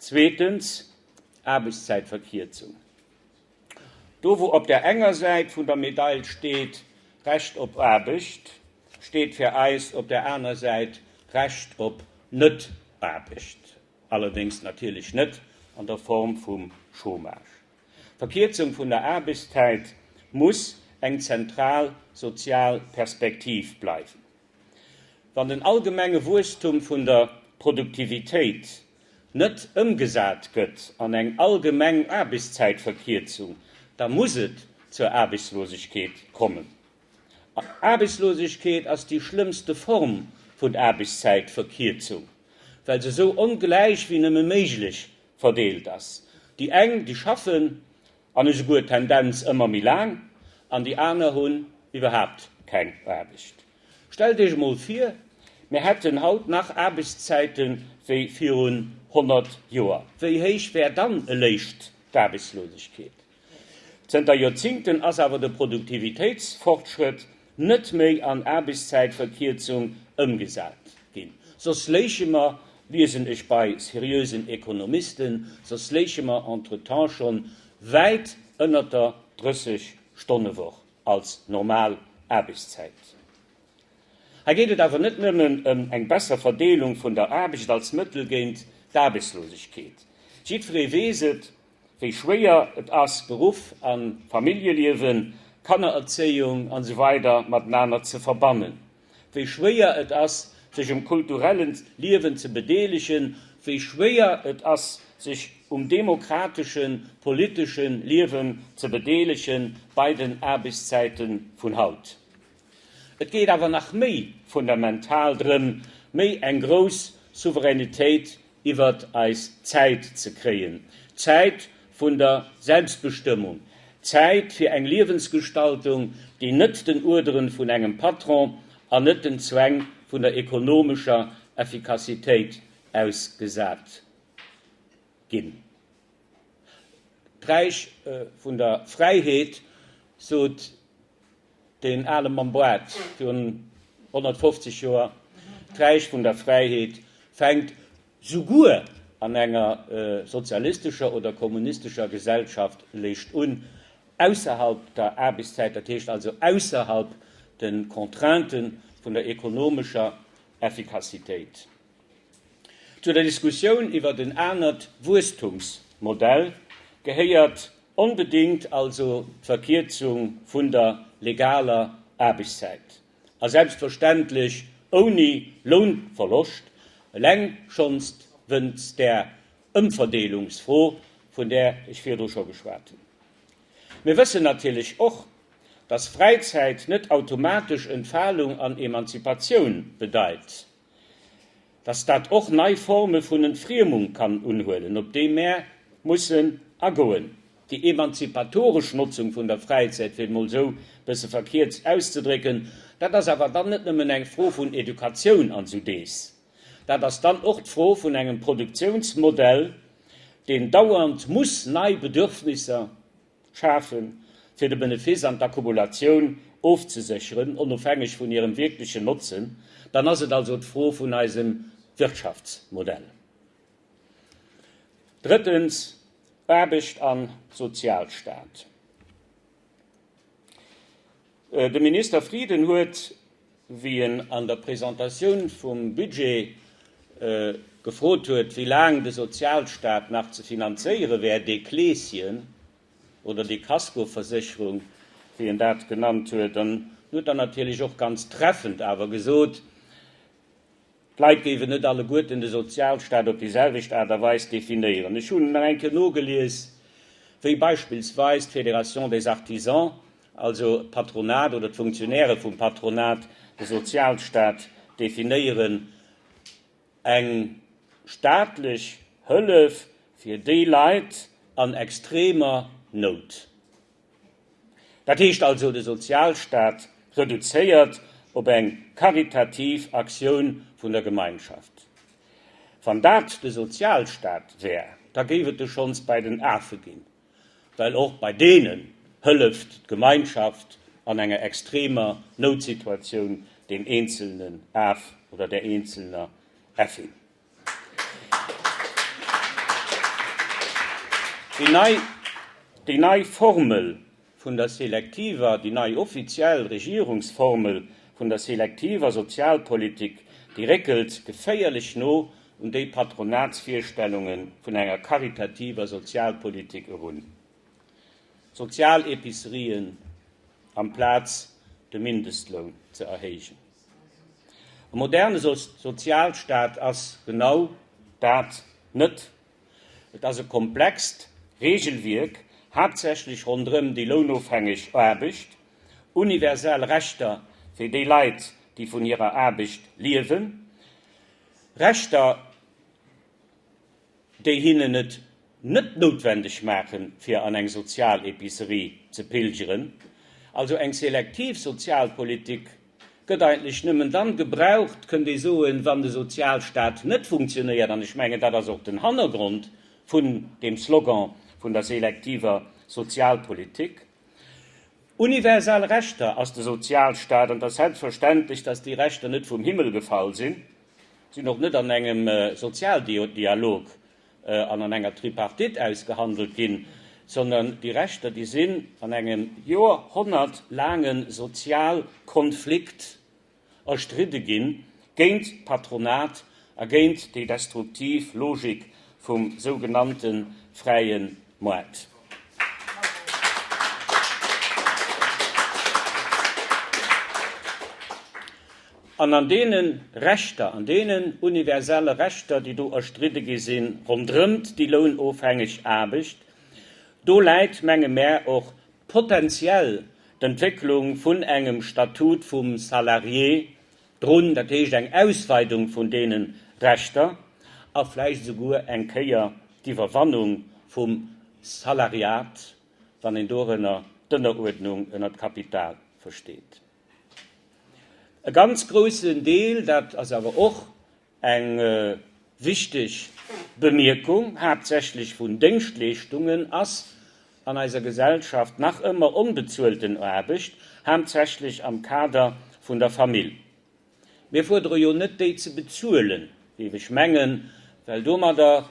Zweetens, Aarbechtszäitverkierzung. Do wou op der enger Säit vun der Medail steet, Recht op Aarbecht, steet fir eis op der aner Säit, Recht op Net-Aarbecht, allerdéngs natierlech net an der Form vum Chômage. D'Verkierzung vun der Aarbechtszäit muss eng zentral sozial Perspektiv bleiwen. Wann den allgemenge Wuesstum vun der Produktivitéit net ëmgesat gëtt an eng allgemeng Aarbechtszäitverkierzung, da muss et zur Aarbechtslosegkeet kommen. Aarbechtslosegkeet ass déi schlëmmste Form vun Aarbechtszäitverkierzung, well se esou ongläich wéi nëmme méiglech verdeelt ass, déi eng, déi schaffen, An esouguer Tendenz ëmmer méi laang, an déi aner hunn iwwerhaapt keng Aarbecht. Stellt Iech emol vir, mir hätten haut nach Aarbechtszäite wéi virun 100 Joer. Wéi héich wär dann eléischt d'Aarbechtslosegkeet? Zënter Joerzingten ass awer de Produktivitéitsfortschrëtt net méi an Aarbechtszäitverkierzung ëmgesat ginn, soss léiche mer, liesen ech bei seriösen Ekonomisten, soss léiche mer entretemps schonn wäit ënnert der 30 Stonnewoch als normal Aarbechtszäit. Hei geet et awer net nëmmen ëm eng besser Verdeelung vun der Aarbecht als Mëttel géint d'Aarbechtslosegkeet. Jiddweree weess et, wéi schwéier et ass, Beruff a Familljeliewen, Kannererzéiung an esou weider matenaner ze verbannen, wéi schwéier et ass, sech um kulturelle Liewen ze bedeelegen, wéi schwéier et ass, sech um demokratesche politesche Liewen ze bedeelegen bei den Aarbechtszäite vun haut. Et geet awer nach méi fundamental drëm, méi eng grouss Souveränitéit iwwert eis Zäit ze kréien, d'Zäit vun der Selbstbestëmmung, d'Zäit fir eng Liewensgestaltung, déi net den Uerderen vun engem Patron an net den Zwäng vun der ekonomescher Effikassitéit ausgesat ginn. D'Räich vun der Fräiheet, sot. Deen ale Mann Boite virun 150 Joer, d'Räich vun der Fräiheet, fänkt souguer an enger sozialistescher oder kommunistescher Gesellschaft léischt un, ausserhalb der Aarbechtszäit, dat heescht also ausserhalb de Contrainten vun der ekonomescher Effikassitéit. Zu der Diskussioun iwwert en anert Wuesstumsmodell gehéiert onbedéngt also d'Verkierzung vun der legaler Aarbechtszäit, a selbstverständlech ouni Lounverloscht, eleng schonst wënst där Ëmverdeelungsfro, vun där ech virdru scho geschwat hunn. Mir wëssen natierlech och, dass Fräizäit net automatesch Entfalung an Emanzipatioun bedeit. dass dat och nei Forme vun Entfriemung kann unhuelen, op déi mär mussen agoen. Déi emanzipatoresch Notzung vun der Fräizäit, fir et emol esou e bësse verkierzt auszedrécken, dat ass awer dann net nëmmen eng Fro vun Educatioun an esou dees. Dat ass dann och d'Fro vun engem Produktionsmodell, deen dauernd muss nei Bedürfnisser schafen, fir de Benefiss an d'Akkumulatioun ofzesécheren, onofhängeg vun hirem wierklechen Notzen, dann ass et also d'Fro vun eisem Wirtschaftsmodell. Drëttens, Aarbecht a Sozialstaat. De Minister Frieden huet, wéi en an der Presentatioun vum Budget gefrot huet, wéi laang de Sozialstaat nach ze finanzéiere wär, dee Kleeschen oder déi Kaskoversécherung, wéi en dat genannt huet, an huet dann natierlech och ganz treffend awer gesot, D'Leit géifen net alleguerten de Sozialstaat op déi selwecht Aart a Weis definéieren. Ech hunn nach eng Kéier nogelies, wéi beispillsweis d'Fédération des Artisans, also d'Patronat oder d'Funktionäre vum Patronat, de Sozialstaat definéieren, eng staatlech Hëllef fir déi Leit an extremer Nout. Dat heescht also de Sozialstaat reduzéiert op eng karitativ Aktioun vun der Gemeinschaft. Wann dat de Sozialstaat wär, da géif et e schonns bei den Afe ginn, well och bei deenen hëlleft d'Gemeinschaft an enger extremer Noutsituatioun deem eenzelnen Af oder der eenzelner Äffin. Déi nei Formel vun der selektiver, déi nei offiziell Regierungsformel vun der selektiver Sozialpolitik, déi réckelt geféierlech no un déi Patronatsvirstellunge vun enger karitativer Sozialpolitik erun, Sozialepicerien amplaz de Mindestloun ze erhéijen. E moderne Sozialstaat ass genau dat net. Et ass e komplext Reegelwierk, haaptsächlech ronderëm déi lounofhängeg Aarbecht, universell Rechter fir déi Leit, déi vun hirer Aarbecht liewen, Rechter, déi hinnen et net noutwendeg maachen, fir an eng Sozialepicerie ze pilgeren. Also eng selektiv Sozialpolitik gëtt eigentlech nëmmen dann gebraucht, kënnt ee soen, wann de Sozialstaat net funktionéiert. An ech mengen, dat ass och den Hannergrond vun deem Slogan vun der selektiver Sozialpolitik. Universal Rechter ass de Sozialstaat, an et ass selbstverständlech, dass déi Rechter net vum Himmel gefall sinn. sinn och net an engem Sozialdialog an an enger Tripartite ausgehandelt ginn, sondern déi Rechter, déi sinn an engem joerhonnertlaange Sozialkonflikt erstridde ginn, géint d'Patronat a géint déi destruktiv Logik vum sougenannte fräie Moart. An an deene Rechter, an deenen universelle Rechter, déi do erstridde gi sinn, ronderëmt déi lounofhängeg Aarbecht, do läit, menge mär, och potentiell d'Entwécklung vun engem Statut vum Salarié Drun, dat heescht eng Ausweidung vun deene Rechter a vläicht esouguer eng Kéier d'Iwwerwannung vum Salariat, wann een dorënner d'Ënneruerdnung ënnert d'Kapital versteet. E ganz groussen Deel, dat ass awer och Eng wichteg Bemierkung, Haaptsächlech vun Déngschtleeschtungen ass an eiser Gesellschaft nach ëmmer onbezuelten Aarbecht, haaptsächlech am Kader vun der Famill. Mir fuerdere jo net déi ze bezuelen, géif ech mengen, well domadder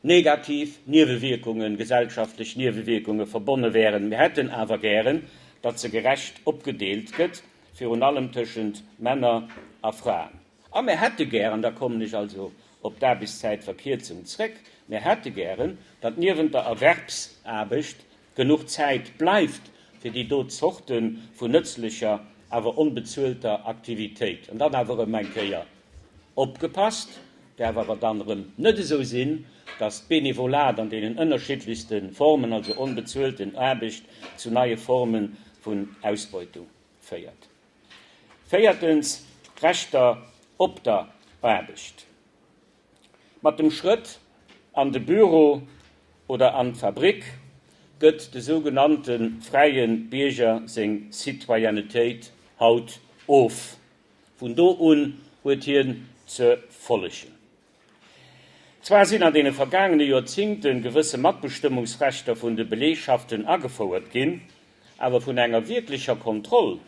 negativ Niewewierkungen, gesellschaftlech Niewewierkunge verbonne wären. Mir hätten awer gären, datt se gerecht opgedeelt gëtt, virun allem tëschent Männer a Fraen. A mir hätte gär, an da kommen ech also op d'Aarbechtszäitverkierzung zréck, mir hätte gären, datt niewent der Erwerbsaarbecht genuch Zäit bleift fir déi do Zorte vun nëtzlecher, awer onbezuelter Aktivitéit. An dann awer erëm eng Kéier, opgepasst, däerf awer dann erëm net esou sinn, datt d'Benevolat an deenen ënnerschiddlechste Formen, also onbezuelten Aarbecht, zu neie Forme vun Ausbeutung féiert. Véiertens, d'Rechter op der Aarbecht. Mat dem Schrëtt an de Büro oder an d'Fabrick gëtt de sougenannte fräie Bierger seng Citoyennetéit haut of. Vun do un huet hien ze follegen. Zwar sinn an deene vergaangene Joerzingte gewësse Matbestëmmungsrechter vun de Belegschaften agefouert ginn, awer vun enger wierklecher Kontroll,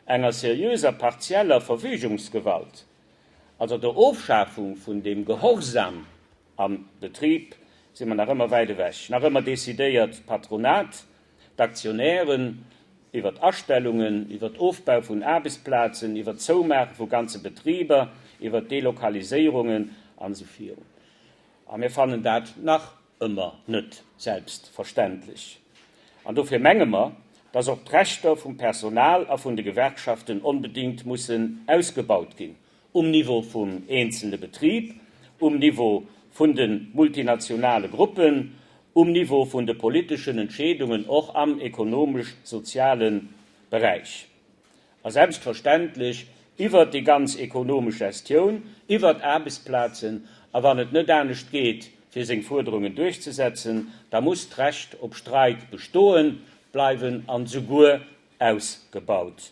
enger seriöser partieller Verfügungsgewalt, also der Ofschafung vun dem Gehorsam am Betrib, si mer nach ëmmer wäit ewech. Nach ëmmer decidéiert d'Patronat d'Aktionären, iwwert Astellungen, iwwert Ofbau vun Aarbechtsplazen, iwwert d'Zoumaache vu ganze Betriber, iwwert d'Delokaliséierungen an esou virun. A mir fannen dat nach ëmmer net selbstverständlech. An dofir menge mer, dass och d'Rechter vum Personal a vun de Gewerkschaften onbedéngt mussen ausgebaut ginn. um Niveau vum eenzelne Betrib, um Niveau vun de multinationale Gruppen, um Niveau vun de politeschen Entscheedungen, och am ekonomesch-soziale Beräich a selbstverständlech iwwert déi ganz ekonomesch Gestioun, iwwert d'Aarbechtsplazen. A wann et net anescht geet, fir seng Fuerderungen duerchzesetzen, da muss d'Recht op Streik bestoe bleiwen an esouguer ausgebaut ginn.